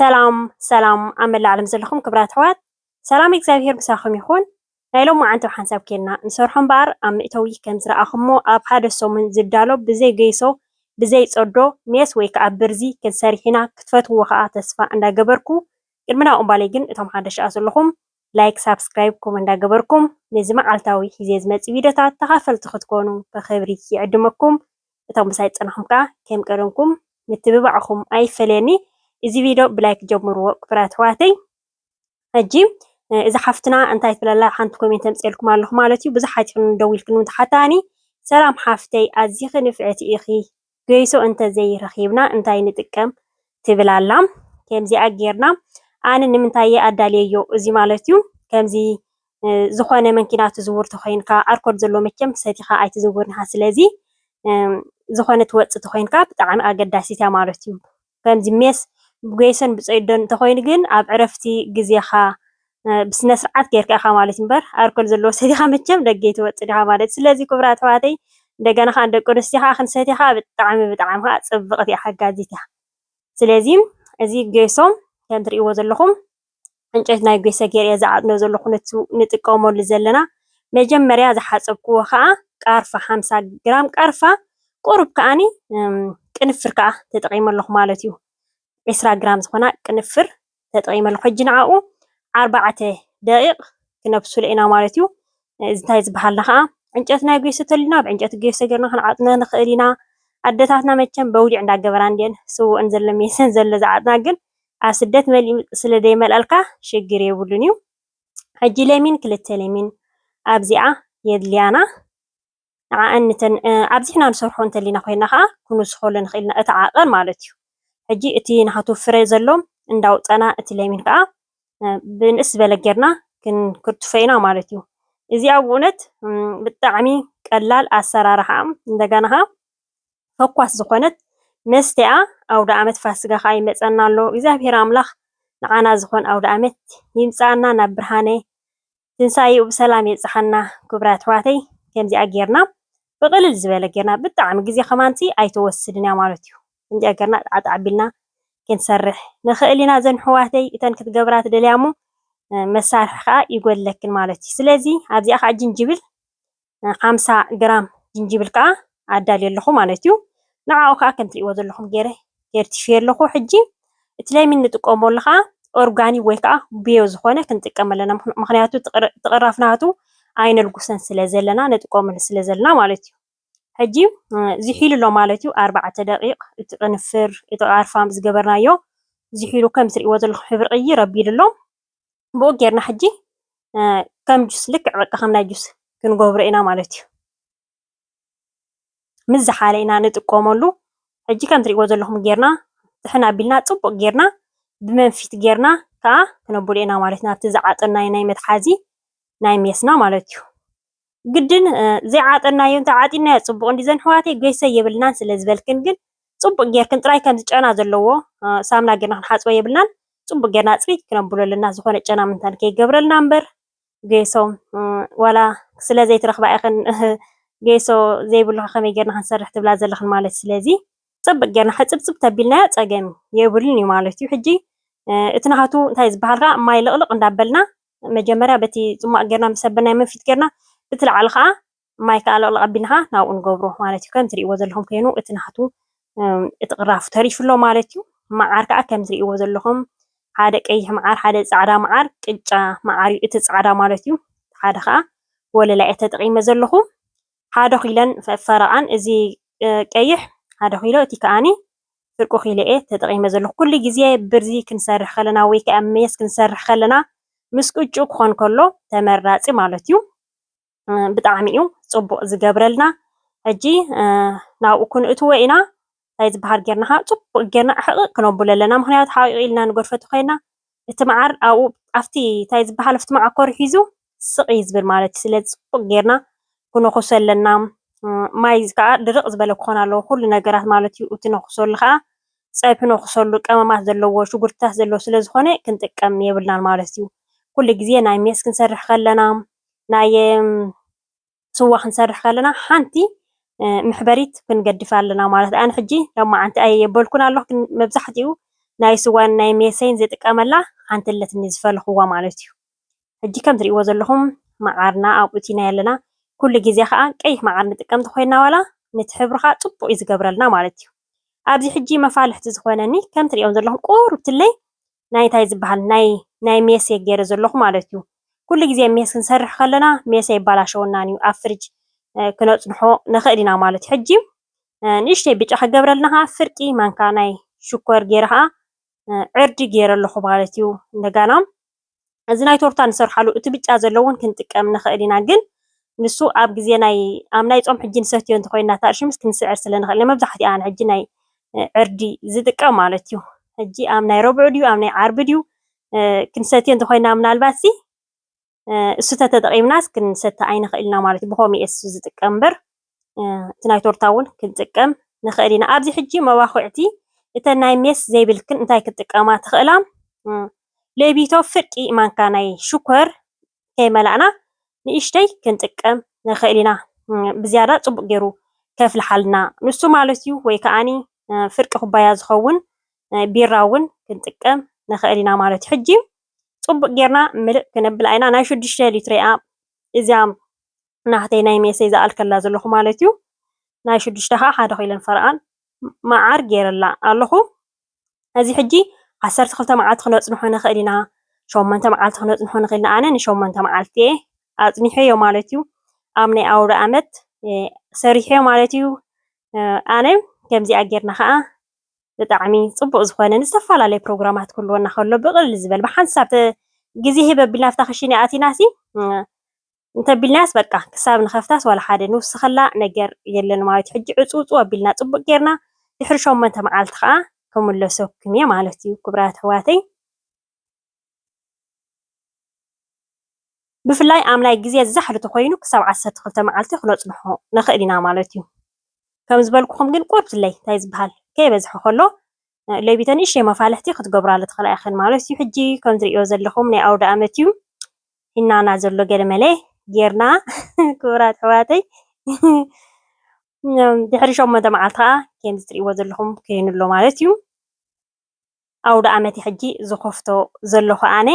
ሰላም ሰላም ኣብ መላእ ዓለም ዘለኹም ክብራት ኣሕዋት ሰላም እግዚኣብሄር ምሳኹም ይኹን። ናይ ሎማዓንቲ ሓንሳብ ኬንና ንሰርሖ እምበኣር ኣብ ምእተዊ ከም ዝረኣኹሞ ኣብ ሓደ ሰሙን ዝዳሎ ብዘይ ገይሶ ብዘይ ጸዶ ሜስ ወይ ከኣ ብርዚ ክንሰርሕ ኢና ክትፈትዉዎ ከኣ ተስፋ እንዳ ገበርኩ ቅድሚ ናብኡ እምባለይ ግን እቶም ሓደሽኣ ዘለኹም ላይክ ሳብስክራይብ ኮም እንዳ ገበርኩም ነዚ መዓልታዊ ሒዜ ዝመጽእ ቪድዮታት ተኻፈልቲ ክትኮኑ ብኽብሪ ይዕድመኩም እቶም ምሳይ ዝጸናኹም ከኣ ከም ቀደምኩም ምትብባዕኹም ኣይፈለየኒ እዚ ቪድዮ ብላይክ ጀምርዎ ክብራት ኣሕዋተይ። ሕጂ እዛ ሓፍትና እንታይ ትብለላ ሓንቲ ኮሜንት ተምፅኤልኩም ኣለኹ ማለት እዩ ብዙሓት ኢኽን ደዊልክን እውን ትሓታኒ ሰላም ሓፍተይ ኣዚኺ ንፍዕቲ ኢኺ ገይሶ እንተዘይረኺብና እንታይ ንጥቀም ትብል ኣላ ከምዚኣ ጌርና ኣነ ንምንታይ እየ ኣዳልየዮ እዚ ማለት እዩ ከምዚ ዝኾነ መንኪና ትዝውር ተኾይንካ ኣርኮድ ዘሎ መቸም ሰቲኻ ኣይትዝውርን ኢኻ ስለዚ ዝኾነ ትወፅእ ተኾይንካ ብጣዕሚ ኣገዳሲት እያ ማለት እዩ ከምዚ ሜስ ብጌሶን ብጸይዶን እንተኾይኑ ግን ኣብ ዕረፍቲ ግዜኻ ብስነ ስርዓት ጌርካ ኢኻ ማለት እዩ እምበር ኣርኮል ዘለዎ ሰቲኻ መቸም ደገ ኣይትወጽእ ዲኻ ማለት እዩ ስለዚ ኩብራት ኣሕዋተይ እንደገና ከኣ ደቂ ኣንስትዮ ከኣ ክንሰቲ ከኣ ብጣዕሚ ብጣዕሚ ከኣ ጽብቅቲ እያ ሓጋዚት እያ ስለዚ እዚ ጌሶ ከምትርእይዎ ዘለኹም ዕንጨት ናይ ጌሰ ገይረ ዝዓጽኖ ዘለኹ ነቲ ንጥቀመሉ ዘለና መጀመርያ ዝሓጸብክዎ ከኣ ቃርፋ ሓምሳ ግራም ቃርፋ ቁሩብ ከኣኒ ቅንፍር ከኣ ተጠቒመ ኣለኹ ማለት እዩ። ዕስራ ግራም ዝኾና ቅንፍር ተጠቒመ ኣለኹ። ሕጂ ንዓኡ ኣርባዕተ ደቒቕ ክነብስሎ ኢና ማለት እዩ። እዚ እንታይ ዝበሃልና ከኣ ዕንጨት ናይ ጌሶ ተሊና ብ ዕንጨት ጌሶ ጌርና ክንዓጽኖ ንኽእል ኢና። ኣደታትና መቸም በውዲዕ እንዳገበራ እንድየን ስውእን ዘሎ ሜስን ዘሎ ዝዓጽና ግን ኣብ ስደት መሊኡ ስለ ዘይመልኣልካ ሽግር የብሉን እዩ። ሕጂ ለሚን ክልተ ለሚን ኣብዚኣ የድልያና። ንዓኣን ንተን ኣብዚሕና ንሰርሖ እንተሊና ኮይና ከኣ ክንውስኸሉ ንኽእል ኢና እቲ ዓቐን ማለት እዩ። ሕጂ እቲ ናቱ ፍረ ዘሎ እንዳውጸና እቲ ለሚን ከኣ ብንእስ ዝበለ ጌርና ክንክርትፎ ኢና ማለት እዩ። እዚኣ ብእውነት ብጣዕሚ ቀላል ኣሰራርሓ እንደገና ከኣ ፈኳስ ዝኾነት መስትያ ኣውደኣመት ፋስጋ ከኣ ይመጸና ኣሎ እግዚኣብሔር ኣምላኽ ንዓና ዝኾን ኣውደኣመት ይምጸኣና ናብ ብርሃነ ትንሳኤኡ ብሰላም የብጽሓና ክብራት ኣሕዋተይ ከምዚኣ ጌርና ብቅልል ዝበለ ጌርና ብጣዕሚ ግዜ ከማንሲ ኣይተወስድን እያ ማለት እዩ ከምዚኣ ጌርና ጣዕጣዕ ኣቢልና ክንሰርሕ ንኽእል ኢና ዘን ኣሕዋተይ እተን ክትገብራ ትደልያ እሞ መሳርሒ ከኣ ይጎድለክን ማለት እዩ ስለዚ ኣብዚኣ ከኣ ጅንጅብል ሓምሳ ግራም ጅንጅብል ከኣ ኣዳልየ ኣለኹ ማለት እዩ። ንዕኡ ከኣ ከም ትርእይዎ ዘለኹም ገይረ ፌርቲሸዮ ኣለኹ። ሕጂ እቲ ለሚን ንጥቀመሉ ከኣ ኦርጋኒ ወይ ከኣ ብዮ ዝኾነ ክንጥቀም ኣለና። ምክንያቱ እቲ ቅራፍ ናቱ ኣይነልጉሰን ስለ ዘለና ንጥቀመሉ ስለ ዘለና ማለት እዩ። ሕጂ ዝሒሉ ኣሎ ማለት እዩ ኣርባዕተ ደቂቕ እቲ ቅንፍር እቲ ቃርፋ ምስ ገበርናዮ ዝሒሉ ከም ትርእይዎ ዘለኹም ሕብሪ ቅይር ኣቢሉ ኣሎ። ብኡ ጌርና ሕጂ ከም ጁስ ልክዕ በቃ ከም ናይ ጁስ ክንገብሮ ኢና ማለት እዩ ምስ ዝሓለ ኢና ንጥቀመሉ ሕጂ ከም ትሪእዎ ዘለኹም ጌርና ጥሕን ኣቢልና ፅቡቕ ጌርና ብመንፊት ጌርና ከዓ ክነብሎ ኢና ማለት ናብቲ ዝዓጠናዮ ናይ መትሓዚ ናይ ሜስና ማለት እዩ ግድን ዘይዓጠናዮ እንተ ዓጢናዮ ጽቡቅ እንድዩ ዘን ኣሕዋተይ ጎይሰይ የብልናን ስለ ዝበልክን ግን ጽቡቅ ጌርክን ጥራይ ከምዚ ጨና ዘለዎ ሳምና ጌርና ክንሓጽቦ የብልናን ጽቡቅ ጌርና ጽሪት ክነብሎ ኣለና ዝኾነ ጨና ምንታን ከይገብረልና እምበር ጌሶ ዋላ ስለ ዘይትረኽባ ኢኽን ጌሶ ዘይብሉ ከመይ ጌርና ክንሰርሕ ትብላ ዘለኽን ማለት ስለዚ ጽብቅ ጌርና ሕጽብጽብ ተቢልናዮ ጸገም የብሉን እዩ ማለት እዩ ሕጂ እቲ ናሃቱ እንታይ ዝበሃል ከኣ ማይ ልቕልቕ እንዳበልና መጀመርያ በቲ ጽሟቕ ጌርና ምስ ኣበናዮ መንፊት ጌርና ብቲ ላዕሊ ከኣ ማይ ከኣ ለቕለቕ ኣቢልና ከኣ ናብኡ ንገብሮ ማለት እዩ። ከም ትርእይዎ ዘለኹም ኮይኑ እቲ ናቱ እቲ ቅራፉ ተሪፉ ኣሎ ማለት እዩ። መዓር ከኣ ከም ትርእይዎ ዘለኹም ሓደ ቀይሕ መዓር ሓደ ጻዕዳ መዓር ቅጫ መዓር እዩ እቲ ጻዕዳ ማለት እዩ። ሓደ ከኣ ወለላ እየ ተጠቒመ ዘለኹ። ሓደ ኪሎን ፈረቓን እዚ ቀይሕ ሓደ ኪሎ እቲ ከኣኒ ፍርቁ ኪሎ እየ ተጠቒመ ዘለኹ። ኩሉ ግዜ ብርዚ ክንሰርሕ ከለና ወይ ከዓ ሜስ ክንሰርሕ ከለና ምስ ቅጩ ክኾን ከሎ ተመራፂ ማለት እዩ። ብጣዕሚ እዩ ፅቡቕ ዝገብረልና። ሕጂ ናብኡ ክንእትዎ ኢና። እንታይ ዝበሃል ጌርና ከኣ ጽቡቕ ጌርና ኣሕቕቕ ክነብሎ ኣለና ምኽንያቱ ሓቒቕ ኢልና ንገድፎ እንተኾይና እቲ መዓር ኣብኡ ኣብቲ እንታይ ዝበሃል ኣብቲ መዓኮሩ ሒዙ ስቕ እዩ ዝብል ማለት እዩ ስለዚ ጽቡቕ ጌርና ክነኹሶ ኣለና ማይ ከኣ ድርቕ ዝበለ ክኾን ኣለዎ ኩሉ ነገራት ማለት እዩ እቲ ነኹሰሉ ከኣ ፀብሒ ነኹሰሉ ቀመማት ዘለዎ ሽጉርትታት ዘለዎ ስለ ዝኾነ ክንጥቀም የብልናን ማለት እዩ ኩሉ ግዜ ናይ ሜስ ክንሰርሕ ከለና ናይ ስዋ ክንሰርሕ ከለና ሓንቲ መሕበሪት ክንገድፍ ኣለና ማለት ኣነ ሕጂ ሎማዓንቲ ኣየበልኩን ኣለኹ ግን መብዛሕትኡ ናይ ስዋን ናይ ሜሰይን ዝጥቀመላ ሓንቲ ኣለትኒ ዝፈለኹዋ ማለት እዩ ሕጂ ከም ትሪእዎ ዘለኹም መዓርና ኣብኡቲና ኣለና ኩሉ ግዜ ከዓ ቀይሕ መዓር ንጥቀም ተኮይና ዋላ ነቲ ሕብሪ ከዓ ፅቡቅ እዩ ዝገብረልና ማለት እዩ ኣብዚ ሕጂ መፋልሕቲ ዝኾነኒ ከም ትሪእዎም ዘለኹም ቁርብትለይ ናይ ታይ ዝባሃል ናይ ናይ ሜሴ ገይረ ዘለኩ ማለት እዩ ኩሉ ግዜ ሜስ ክንሰርሕ ከለና ሜስ ኣይባላሸወናን እዩ ኣብ ፍርጅ ክነፅንሖ ንክእል ኢና ማለት እዩ ሕጂ ንእሽተይ ብጫ ክገብረልና ከዓ ፍርቂ ማንካ ናይ ሽኮር ገይረ ከዓ ዕርዲ ገይረ ኣለኩ ማለት እዩ እንደጋና እዚ ናይ ቶርታ ንሰርሓሉ እቲ ብጫ ዘሎ ውን ክንጥቀም ንክእል ኢና ግን ንሱ ኣብ ግዜ ናይ ኣብ ናይ ጾም ሕጂ ንሰትዮ እንተኮይና እታ ርሽምስ ክንስዕር ስለ ንክእል ኢና መብዛሕቲኣ ኣነ ሕጂ ናይ ዕርዲ ዝጥቀም ማለት እዩ ሕጂ ኣብ ናይ ረቡዕ ድዩ ኣብ ናይ ዓርቢ ድዩ ክንሰትዮ እንተኮይና ምናልባት ሲ እሱ ተተጠቂምናስ ክንሰቲ ኣይንክእል ኢና ማለት እዩ ብኮምኡ እየ እሱ ዝጥቀም እምበር እቲ ናይ ቶርታ እውን ክንጥቀም ንኽእል ኢና። ኣብዚ ሕጂ መባዅዕቲ እተን ናይ ሜስ ዘይብልክን እንታይ ክጥቀማ ትኽእላ? ለይቢቶ ፍርቂ ማንካ ናይ ሽኮር ከይመላእና ንእሽተይ ክንጥቀም ንኽእል ኢና፣ ብዝያዳ ጽቡቕ ገይሩ ከፍልሓልና ንሱ ማለት እዩ። ወይ ከዓኒ ፍርቂ ኩባያ ዝኸውን ቢራ እውን ክንጥቀም ንኽእል ኢና ማለት እዩ። ሕጂ ጽቡቕ ጌርና ምልእ ክነብላ ኢና። ናይ ሽዱሽተ ሊትሮ እያ እዚኣ ናህተይ ናይ ሜሰይ ዝኣልከላ ዘለኹ ማለት እዩ ናይ ሽዱሽተ ከኣ ሓደ ኪሎን ፈረቓን መዓር ጌረላ ኣለኹ እዚ ሕጂ ዓሰርተ ክልተ መዓልቲ ክነጽንሖ ንኽእል ኢና ሸሞንተ መዓልቲ ክነጽንሖ ንኽእል ኢና ኣነ ንሸሞንተ መዓልቲ እየ ኣጽኒሐዮ ማለት እዩ ኣብ ናይ ኣውደኣመት ሰሪሐዮ ማለት እዩ ኣነ ከምዚኣ ጌርና ከኣ ብጣዕሚ ጽቡቕ ዝኾነ ንዝተፈላለየ ፕሮግራማት ክህልወና ከሎ ብቕልል ዝበል ብሓንሳብ ግዜ ሂብ ኣቢልና ኣብታ ክሽነ ኣቲናሲ እንተቢልናያስ በቃ ክሳብ ንከፍታስ ዋላ ሓደ ንውስኸላ ነገር የለን ማለትዩ ሕጂ ዕጽውጽው ኣቢልና ጽቡቅ ጌርና ድሕሪ ሸሞንተ መዓልቲ ከኣ ክምለሰኩምየ ማለትዩ ክብራት ኣሕዋተይ ብፍላይ ኣብ ናይ ግዜ ዛሕሊ ተኮይኑ ክሳብ ዓሰርተ ክልተ መዓልቲ ክነጽንሖ ንክእል ኢና ማለትዩ ከምዝበልኩኹም ግን ቁርብትለይ ታይ ዝብሃል ከይበዝሐ ከሎ ለይቢተ ንእሽተይ መፋልሕቲ ክትገብራሉ ትኽእላ ኢኽን ማለት እዩ። ሕጂ ከም ዝርእዮ ዘለኹም ናይ ኣውደኣመት እዩ። ሂናና ዘሎ ገለመለ ጌርና ክቡራት ኣሕዋተይ ድሕሪ ሸሞንተ መዓልቲ ከዓ ከምዚ ትርእይዎ ዘለኹም ኮይኑ ኣሎ ማለት እዩ። ኣውደኣመት እዩ ሕጂ ዝኸፍቶ ዘለኹ ኣነ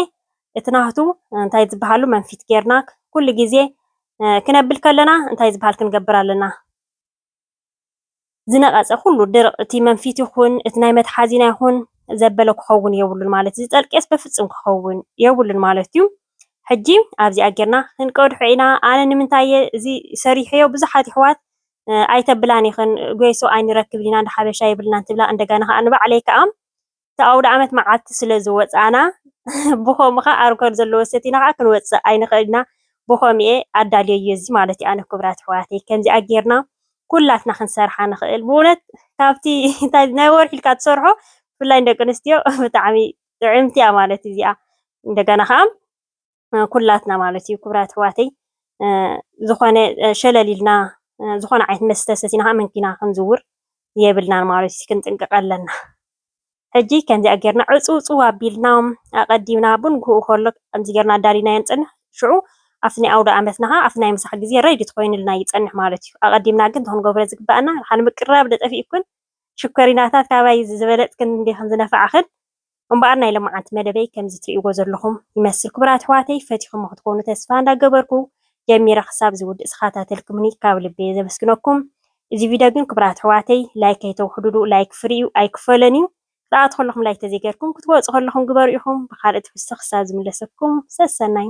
እቲ ናቱ እንታይ ዝበሃሉ መንፊት ጌርና ኩሉ ግዜ ክነብል ከለና እንታይ ዝበሃል ክንገብር ኣለና ዝነቐጸ ኩሉ ድርቕ እቲ መንፊት ይኹን እቲ ናይ መትሓዚና ይኹን ዘበለ ክኸውን የብሉን ማለት እዚ ጠልቄስ በፍጹም ክኸውን የብሉን ማለት እዩ። ሕጂ ኣብዚኣ ጌርና ክንቀድሖ ኢና። ኣነ ንምንታይ እየ እዚ ሰሪሐዮ ብዙሓት ይሕዋት ኣይተብላን ኢኽን ጌሶ ኣይንረክብን ኢና እንዳ ሓበሻ የብልናን ትብላ እንደገና ከኣ ንባዕለይ ከኣ እቲ ኣውደኣመት መዓልቲ ስለ ዝወጻእና ብኸምኡ ከኣ ኣርኮል ዘለዎ ሰቲና ከኣ ክንወጽእ ኣይንክእልን ኢና ብኸምኡ እየ ኣዳልየዮ እዚ ማለት እዩ ኣነ ክብራት ኣሕዋተይ ከምዚኣ ጌርና ኩላትና ክንሰርሓ ንክእል ብእውነት ካብቲ እንታይ ናይ ወርሒ ኢልካ ትሰርሖ ብፍላይ ንደቂ ኣንስትዮ ብጣዕሚ ጥዕምቲ እያ ማለት እዚኣ እንደገና ከኣ ኩላትና ማለት እዩ ክብራት ኣሕዋተይ ዝኾነ ሸለል ኢልና ዝኾነ ዓይነት መስተ ሰቲና ከዓ መንኪና ክንዝውር የብልናን ማለት እዩ ክንጥንቀቕ ኣለና ሕጂ ከምዚኣ ጌርና ዕፅውፅው ኣቢልና ኣቐዲምና ብንግህኡ ከሎ ከምዚ ጌርና ኣዳሊና የንፅንሕ ሽዑ ኣብቲ ናይ ኣውደ ዓመትና ከዓ ኣብቲ ናይ ምሳሕ ግዜ ረዲት ኮይኑልና ይፀንሕ ማለት እዩ ኣቐዲምና ግን ተክንገብረ ዝግባኣና ሓደ ምቅራብ ደጠፊእኩን ሽኮሪናታት ካባይ ዝበለፅክን እንዲኽን ዝነፋዕኽን እምበኣር ናይ ሎምዓንቲ መደበይ ከምዚ ትርእይዎ ዘለኹም ይመስል ክቡራት ኣሕዋተይ ፈቲኹሞ ክትኮኑ ተስፋ እንዳገበርኩ ጀሚረ ክሳብ ዝውድእ ዝኻታተልክሙኒ ካብ ልበየ ዘመስግነኩም እዚ ቪድዮ ግን ክቡራት ኣሕዋተይ ላይክ ከይተውሕዱሉ ላይክ ፍሪ እዩ ኣይክፈሎን እዩ ክትኣቱ ከለኹም ላይክ ተዘይገርኩም ክትወጹ ከለኹም ግበሩ ኢኹም ብኻልእ ትሕዝቶ ክሳብ ዝምለሰኩም ሰሰናዩ።